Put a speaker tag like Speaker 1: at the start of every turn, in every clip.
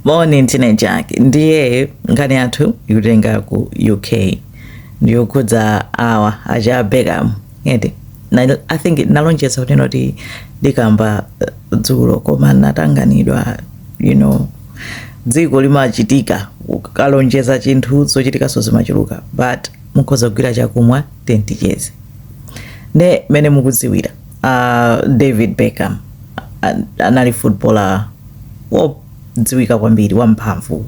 Speaker 1: moni ntine jack ndiye nkhani yathu ikutenga ku uk ndiyokhudza awa aja beckham eeh, i think nalonjeza kunena kuti ndikamba eh, dzulo koma natanganidwa you know dziko limachitika ukalonjeza chinthu zochitikaso zimachuluka but mukhoza kugwira chakumwa ndiye ticheze nde mene mukudziwira uh, david beckham anali footballer wodziwika kwambiri wamphamvu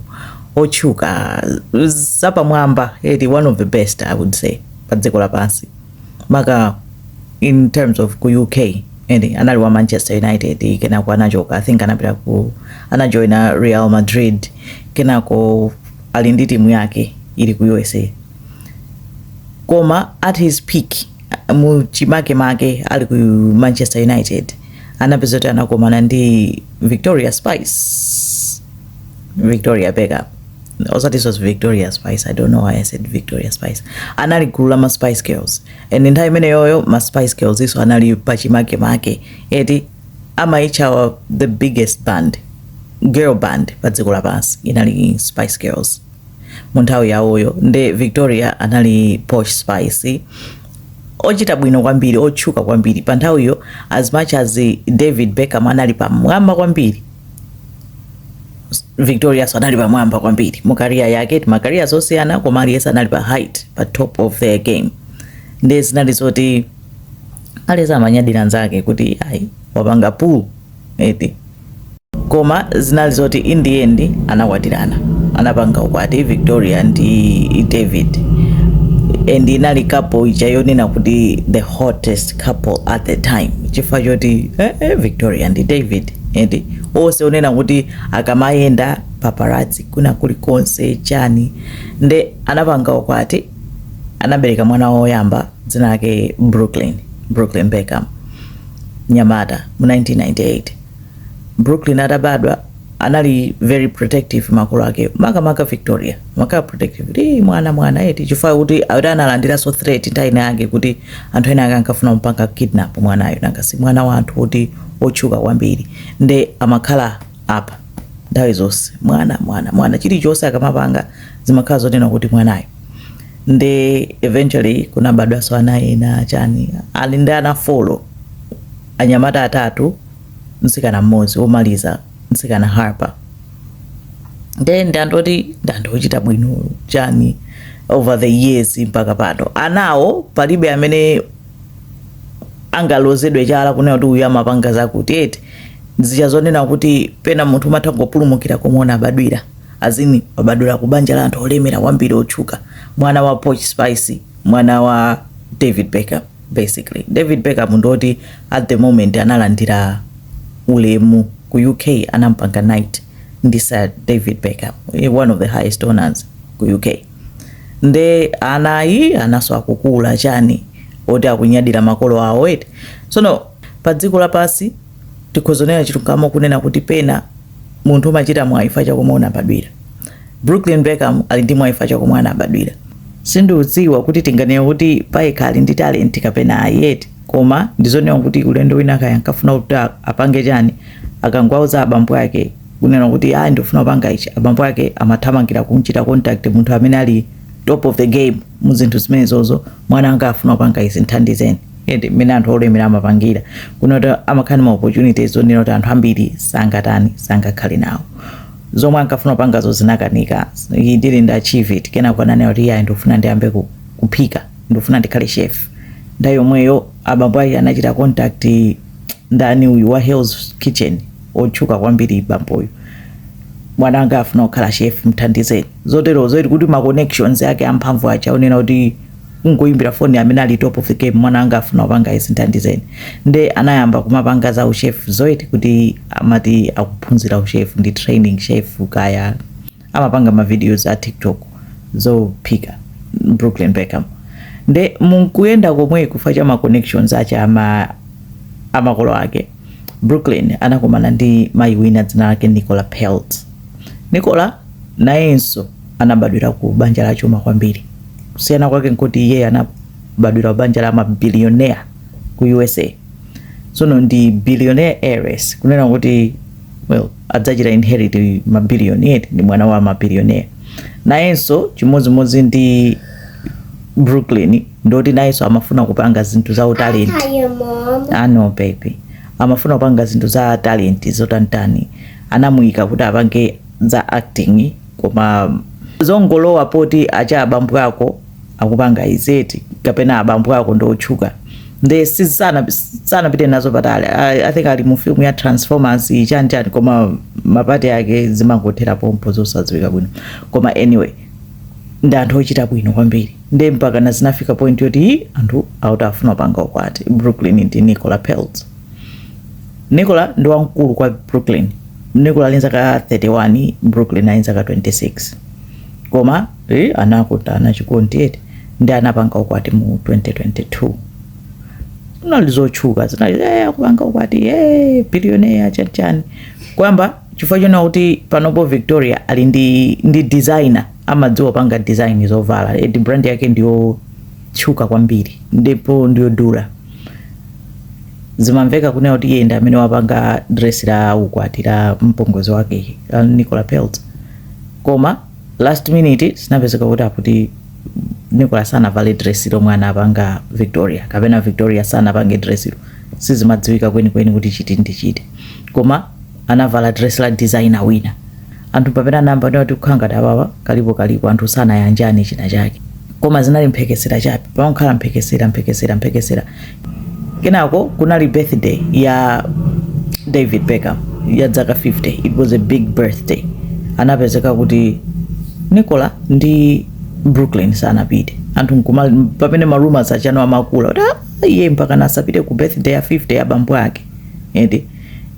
Speaker 1: otchuka zapamwamba eti one of the best i would say pa dziko lapansi maka in terms of ku uk and anali wa manchester united kenako anachoka i think anapita ku, anajoina real madrid kenako ali ndi timu yake ili ku usa koma at his peak mu chimake make ali ku manchester united anapeza kuti anakomana ndi victoria spice victoria beckham of course she was victoria spice i don't know why i said victoria spice anali gulu la ma spice girls and nthawi imeneyoyo ma spice girls nawonso anali pachimake make eti amawatcha the biggest band girl band pa dziko lapansi inali spice girls mu nthawi yawoyo nde victoria anali posh spice ochita bwino kwambiri otchuka kwambiri pa nthawiyo as much as david beckham anali pamwamba kwambiri victorianso anali pamwamba kwambiri mu career yake eti ma career zosiyana koma aliyense anali pa height pa top of their game nde zinali zoti aliyense amanyadira nzake kuti ayi wapanga pull eti koma zinali zoti in the end anakwatirana anapanga ukwati victoria ndi david and inali couple ija yonena kuti the hottest couple at the time chifukwa choti eh, eh, victoria ndi david eti onse onena kuti akamayenda paparazzi kuna kulikonse chani nde anapanga ukwati anabereka mwana woyamba dzina lake brooklyn brooklyn beckham mnyamata mu 1998 Brooklyn atabadwa anali very protective makolo ake makamaka Victoria amakhala protective kuti "Ii, mwana mwana eti chifukwa kuti akuti analandiranso threat nthawi ina yake kuti anthu ena ake ankafuna kumpanga kidnap mwanayo nanga si mwana wa anthu oti otchuka kwambiri nde amakhala pa nthawi zonse mwana mwana mwana chilichonse akamapanga zimakhala zonena kuti mwanayo ndi eventually kunabadwanso ana ena chani ali ndi ana folo anyamata atatu mtsikana mmodzi womaliza mtsikana harper nde ndi anthu oti ndi anthu ochita bwino chani over the years mpaka pano anawo palibe amene angalozedwe chala kunena kuti uyu amapanga zakuti eti zija zonena kuti pena munthu umatha kungopulumukira komwe unabadwira As in wabadwira ku banja la anthu olemera kwambiri otchuka, mwana wa Posh Spice, mwana wa David Beckham basically. David Beckham ndi oti at the moment analandira ulemu ku UK anampanga knight ndi Sir David Beckham, one of the highest honors ku UK. Nde ana awa anaso akukula chani oti akunyadira makolo awo eti. Tsono pa dziko lapansi tikhozonera chilungamo kunena kuti pena Munthu umachita mwayi chifukwa cha komwe unabadwira. Brooklyn Beckham ali ndi mwayi chifukwa cha komwe anabadwira. Sindiudziwa kuti tinganene kuti payekha ali ndi talent kapena ayi eti koma ndizonena kuti ulendo wina kaya ankafuna kuti apange chani akangowauza abambo ake kunena kuti ndikufuna kupanga ichi abambo ake amathamangira kumchita contact munthu amene ali top of the game mu zinthu zimenezozo mwana wanga afuna kupanga izi nthandizeni. ende mmene anthu olemera amapangira kunena kuti amakhala ma opportunities zonena kuti anthu ambiri sangatani sangakhale nawo zomwe ankafuna kupangazo zinakanika he didn't achieve it kenako ananena kuti iye ndikufuna ndiyambe ku- kuphika ndikufuna ndikhale chef nthawi yomweyo abambo ake anachita contact ndani uyu wa Hell's Kitchen otchuka kwambiri bamboyo mwana wanga afuna kukhala chef mthandizeni zotero zoti kuti ma connections ake amphamvu aja onena kuti kungoyimbira foni amene ali top of the game mwana anga afuna kupanga izi ndithandizeni nde anayamba kumapanga za uchef zoti kuti amati akuphunzira uchef ndi training chef kaya amapanga ma videos a tiktok zophika brooklyn beckham nde munkuyenda komweko chifukwa cha ma connections ache ama amakolo ake brooklyn anakumana ndi mayi wina dzina lake nicola peltz nicola nayenso anabadwira ku banja la chuma kwambiri. Kusiyana kwake nkuti iye anabadwira kubanja la mabilionea ku USA. Tsono ndi billionaire heiress kunena kuti well, adzachita inherit mabilioni eti ndi mwana wa mabilionea. Nayenso chimodzimodzi ndi Brooklyn ndoti nayenso amafuna kupanga zinthu za talenti. Ah no baby. Amafuna kupanga zinthu za talenti zotantani. Anamuyika kuti apange za acting koma zongolowa poti acha abambo ako akupanga izeti kapena abambo ako ndi otchuka nde sizana sanapite nazo patali I, i think ali mu film ya transformers iyi chani chani koma mapati ake zimangothera pompo zosadziwika bwino koma anyway ndi anthu ochita bwino kwambiri nde mpaka nazo zinafika point yoti "Ii, anthu akuti afuna kupanga ukwati brooklyn ndi nicola peltz nicola ndi wamkulu kwa brooklyn Nicola ali nzaka 31 Brooklyn ali nzaka 26 koma eh, anakutana chikondi eti ndi anapanga ukwati mu 2022 zinali zotchuka zinali eh, akupanga ukwati eh, billionaire chanichani koyamba chifukwa chonena kuti panopo victoria ali ndi, ndi designer amadziwa kupanga design zovala eti brand yake ndi yotchuka kwambiri ndipo ndi yodula Zimamveka kunena kuti iye ndi amene wapanga dress la ukwati la mpongozi wake la Nicola Peltz. Koma last minute zinapezeka kuti akuti Nicola sanavale dress lomwe anapanga Victoria kapena Victoria sanapange dress lo. Sizimadziwika kwenikweni kuti chiti ndi chiti. Koma anavala dress la designer wina. Anthu mpamene anayamba kunena kuti kukhala ngati awawa kalipo kalipo anthu sanayanjane china chake koma zinali mphekesera chabe pamakhala mphekesera mphekesera mphekesera kenako kunali birthday ya David Beckham ya zaka 50 it was a big birthday inapezeka kuti Nicola ndi Brooklyn sanapite anthu nkuma pamene ma rumors achano amakula kuti ah, iye mpaka osapita ku birthday ya 50 ya bambo ake eti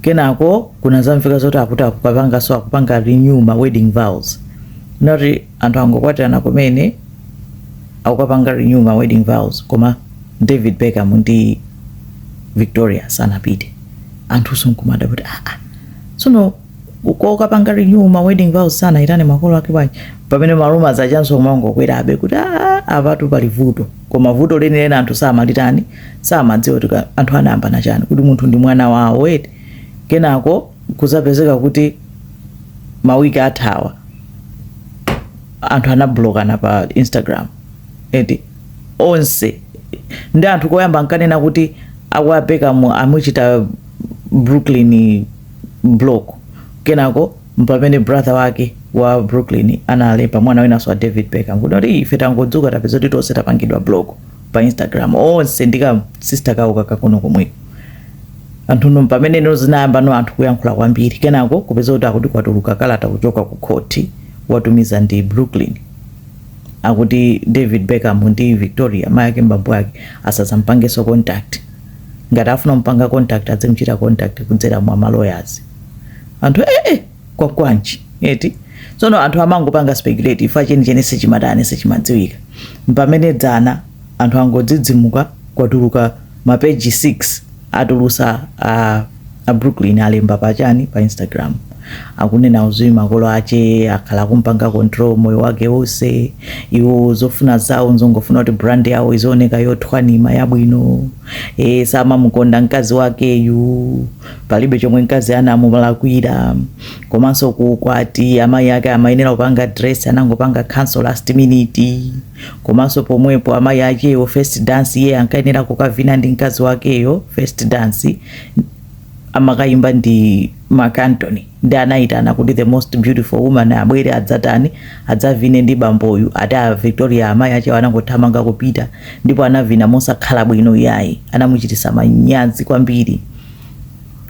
Speaker 1: kenako kunazamveka zoti akuti akukapanganso akupanga renew ma wedding vows nati anthu angokwatirana kumene akukapanga renew ma wedding vows koma david beckham ndi victoria sanapite anthunso nkumadabwa kuti aa tsono kukapanga renew ma wedding vows sanayitane makolo ake bwanji pamene ma rumors achanso kumangokwerabe kuti aa apatu pali vuto koma vuto lenileni anthu samalitani samadziwa kuti anthu anayambana chani kuti munthu ndi mwana wawo eti kenako kuzapezeka kuti mawiki athawa anthu anablokana pa instagram eti onse ndi anthu koyamba nkanena kuti akwa beckham amuchita brooklyn block kenako mpamene brother wake wa brooklyn analemba mwana winanso wa david beckham kunena kuti ife tangodzuka tapeza kuti tonse tapangidwa block pa instagram onse ndika sister kawo kakang'ono komweko anthuno pamene ino zinayamba no anthu kuyankhula kwambiri kenako kupeza kuti akuti kwatuluka kalata kuchoka ku khoti watumiza ndi brooklyn akuti david beckham ndi victoria mayi ake mbambo ake asazampangeso contact ngati afuna kumpanga contact adzimuchita contact kudzera mwa ma lawyers anthu ee eh, eh, kwa kwanji eti tsono anthu amangopanga speculate ife chenicheni sichimatani sichimadziwika mpamene dzana anthu angodzidzimuka kwatuluka mapeji 6 atulusa a, a brooklyn alemba pachani pa instagram akunena kuti makolo ache akhala akumpanga control moyo wake wonse iwo zofuna zawo nzongofuna kuti brand yawo izioneka yothwanima yabwino e, samamukonda mkazi wakeyu palibe chomwe mkazi anamulakwira komanso ku ukwati amayi ake amayenera kupanga dress anangopanga cancel last minute komanso pomwepo amayi achewo first dance iye ankayenera kukavina ndi mkazi wakeyo first dance amakayimba ndi Mark Anthony nde anayitana kuti the most beautiful woman abwere adzatani adzavine ndi bamboyu ati a Victoria amayi achewo anangothamanga kupita ndipo anavina mosakhala bwino iyayi anamuchititsa manyazi kwambiri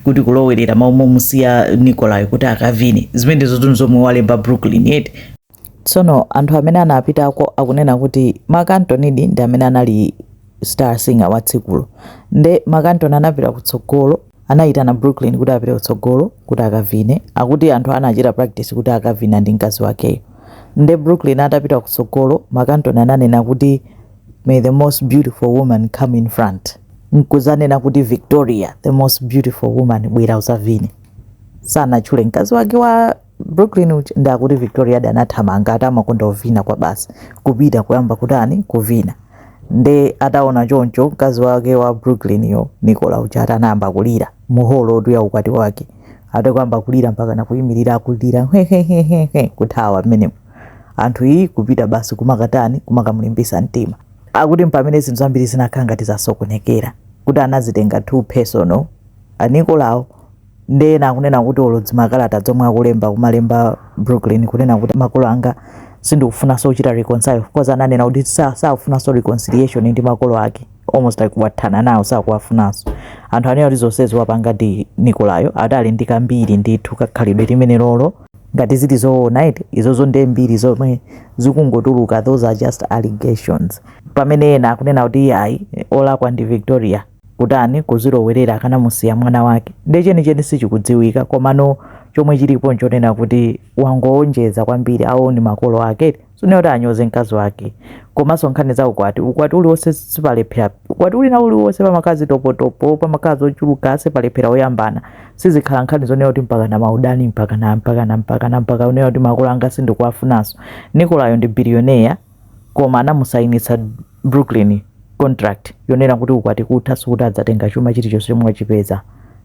Speaker 1: kuti kulowerera mmalo momusiya Nicola kuti akavine zimenezo zinthu zomwe walemba Brooklyn eti tsono anthu amene anapitako akunena kuti Mark Anthonydi ndi amene anali star singer wa tsikulo nde Mark Anthony anapita kutsogolo Anayitana Brooklyn kuti apite kutsogolo kuti akavine. Akuti anthu anachita practice kuti akavina ndi mkazi wakeyo. Nde Brooklyn atapita kutsogolo, Mark Anthony ananena kuti May the most beautiful woman come in front. Nkuzanena kuti Victoria, the most beautiful woman bwera uzavine. Sanatchule mkazi wake wa. Brooklyn uja nde akuti Victoria adathamanga ati amakonda kuvina kwabasi kupita kuyamba kutani kuvina nde ataona choncho mkazi wake wa Brooklyn yo Nicola uja ati anayamba kulira muholomotu ya ukwati wake ati kuyamba kulira mpaka nakuyimirira akulira hehehehe kuthawa mmenemo anthu iyi kupita basi kumakatani kumakamulimbitsa mtima akuti mpamene zinthu zambiri zinakhala ngati zasokonekera kuti anazitenga too personal a Nicolawo nde ena akunena kuti olo zimakalata zomwe akulemba kumalemba Brooklyn kunena kuti makolo anga sindikufunanso kuchita reconcile coz ananena kuti sa- sakufunanso reconciliation ndi makolo ake almost like wathana nawo sakuwafunanso anthu anena kuti zonsezi wapanga ndi Nicolayo ati ali ndi kambiri ndithu kakhalidwe limenelolo ngati zili zoona eti izozo nde mbiri zomwe zikungotuluka those are just allegations pamene ena akunena kuti iyayi olakwa ndi victoria kutani kuzilowerera akanamusiya mwana wake nde chenicheni sichikudziwika komano chomwe chilipo nchonena kuti wangowonjeza kwambiri awo ndi makolo ake sunena kuti anyoze mkazi wake komanso nkhani za ukwati ukwati uliwonse sipalephera ukwati wina uliwonse pamakhala zitopotopo pamakhala zochuluka sipalephera oyambana sizikhala nkhani zonena kuti mpaka na maudani mpaka na mpaka na mpaka na mpaka unena kuti makolo anga sindikuwafunanso Nicolayo ndi biliyoneya koma anamusainitsa Brooklyn contract yonena kuti ukwati kutha sikuti adzatenga chuma chilichonse chomwe wachipeza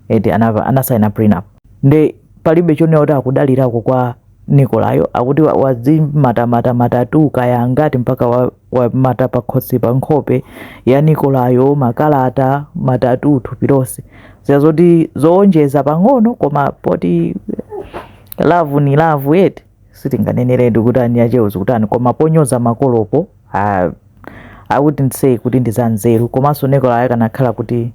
Speaker 1: eti anasaina prenup nde palibe chonena kuti akudalirako kwa nikolayo akuti wazimatamata matatu kaya angati mpaka wa- wamata wa pakhosi pa nkhope ya nikolayo makalata matatu thupi lonse zina zoti zowonjeza pang'ono koma poti lavu ni lavu eti sitinganeneretu kuti enieniachewo zikutani koma ponyoza makolopo ah, i wouldn't say kuti ndi zanzeru komanso nikola akanakhala kuti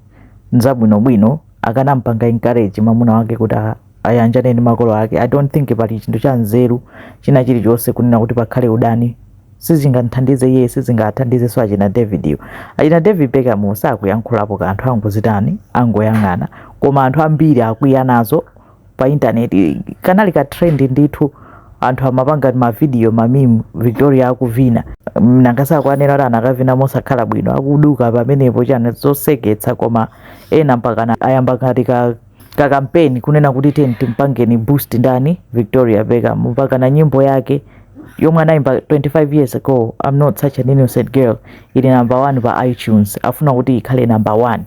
Speaker 1: nzabwinobwino akanampanga encourage mamuna wake kuti a- ayanjane ndi makolo ake i don't think pali chinthu cha nzeru china chilichonse kunena kuti pakhale udani sizingamthandize iye sizingathandizenso achina david iwowo achina david beckham sakuyankhulapo kanthu angozitani angoyang'ana koma anthu ambiri akwiya nazo pa intaneti kanali ka trend ndithu anthu amapanga mavidiyo mamimu victoria akuvina nanga si akunena kuti anakavina mosakhala bwino akuduka pamenepo chani zoseketsa koma ena mpakana ayamba ngati ka ka kampeni kunena kuti tiyeni timpangeni boost ndani victoria beckham mpakana nyimbo yake yomwe anayimba 25 years ago i'm not such an innocent girl ili number one pa itunes afuna kuti ikhale number one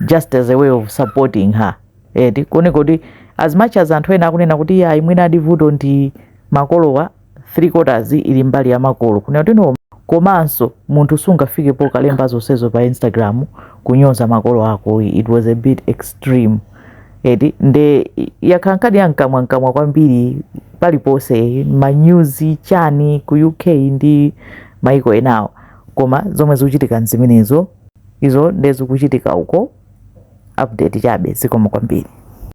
Speaker 1: just as a way of supporting her eti kuone kuti as much as anthu ena akunena kuti iyayi mwina a vuto ndi makolowa 3 quarters ili mbali ya makolo kunena kuti no komanso munthu sungafike pokalemba zonsezo pa instagram kunyoza makolo ako it was a bit extreme eti nde yakhala nkhani ya mkamwamkamwa kwambiri paliponse manyuzi chani ku uk ndi maiko enawo koma zomwe zikuchitika nzimenezo Izo nde zikuchitika uko update chabe zikomo kwambiri.